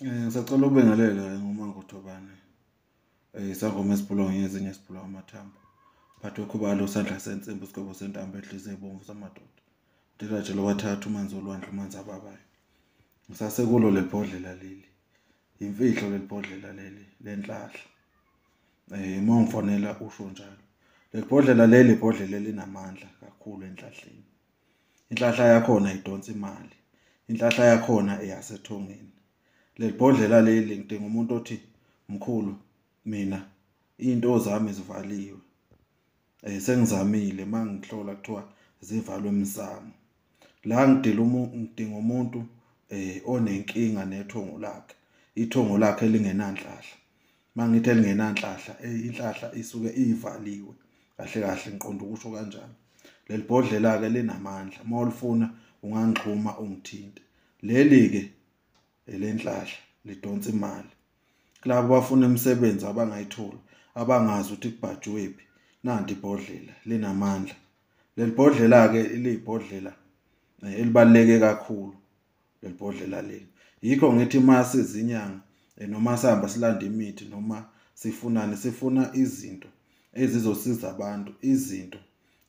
Eh, ngisacela ukubingelela ngoma ngothobane eh, isangoma esibhulongo ngezinye esibhulwa amathambo phathwe khubalo sandla sensimbi isigwebo sentambo edlize ebomvu samadoda ndilaje lowathatha umanzi olwandle umanzi ababayo ngisasekulo leli bhodlela leli yimfihlo leli bhodlela leli lenhlahla um eh, uma ungifonela usho njalo leli bhodlela leli ibhodlela elinamandla kakhulu enhlahleni inhlahla yakhona idonsa imali inhlahla yakhona eyasethongeni lelibhodlela leli ngidinga umuntu othi mkhulu mina into zami zivaliwe eh sengizamile mangihlola kuthiwa zivalwe emsamo la ngidila umuntu ngidinga umuntu eh onenkinga nethongo lakhe ithongo lakhe lingenanhlahla mangithi elingenanhlahla eh, inhlahla isuke ivaliwe kahle kahle ngiqonda ukusho kanjalo leli bhodlela ke linamandla uma ulifuna ungangixhuma ungithinte leli ke elenhlahla lidonsa imali kulabo bafuna imisebenzi abangayithola abangazi ukuthi kubhajwephi nanti ibhodlela linamandla leli bhodlela ke ilibhodlela eh, elibaleke kakhulu leli bhodlela leli yikho ngithi uma sizinyanga eh, noma sihamba silanda imithi noma sifunani sifuna izinto ezizosiza abantu izinto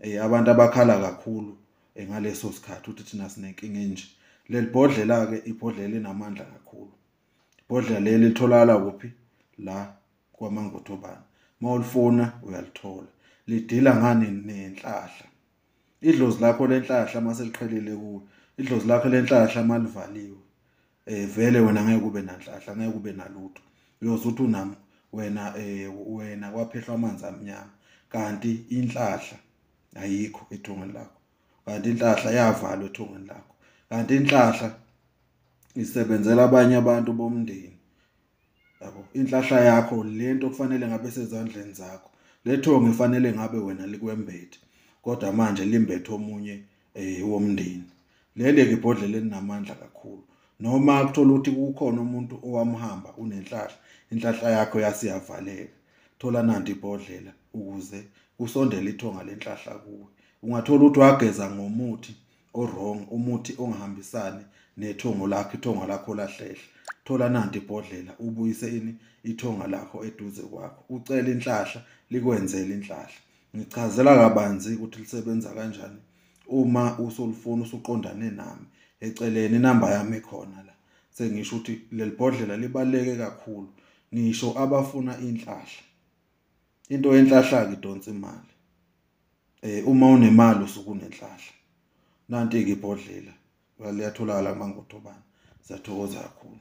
eh, abantu abakhala kakhulu eh, ngaleso sikhathi ukuthi thina sinenkinga enje leli bhodlela ke ibhodlela linamandla kakhulu ibhodlela leli litholakala kuphi la kwamangothobana mawulifuna uyalithola lidila ngani nenhlahla idlozi lakho lenhlahla uma seliqhelile kuwe idlozi lakho lenhlahla uma livaliwe um vele wena ngeke ube nanhlahla ngeke ube nalutho uyoze uthi unami wena um wena kwaphehlwa amanzi amnyama kanti inhlahla ayikho ethongweni lakho kanti inhlahla yavalwa ethongweni lakho kanti inhlahla isebenzela abanye abantu bomndeni yabo inhlahla yakho lento kufanele ngabe sezandleni zakho lethonga ifanele ngabe wena likwembethe kodwa manje limbethe omunye eh womndeni lele ke ibhodlela elinamandla kakhulu noma kuthola ukuthi kukhona umuntu owamhamba unenhlahla inhlahla yakho yasiyavaleka thola nanti ibhodlela ukuze kusondele ithonga lenhlahla kuwe ungathola ukuthi wageza ngomuthi owrong umuthi ongahambisani nethongo lakho ithonga lakho lahlehla thola nanti ibhodlela ubuyise ini ithonga lakho eduze kwakho ucela inhlahla likwenzele inhlahla ngichazela kabanzi ukuthi lisebenza kanjani uma usolufuna usuqondane nami eceleni inamba yami khona la sengisho ukuthi lelibhodlela libaleke kakhulu ngisho abafuna inhlahla into yenhlahla ke donsa imali eh uma unemali usuku nenhlahla nanti ke ibhodlela liyatholakala mangotho bana siyathokoza kakhulu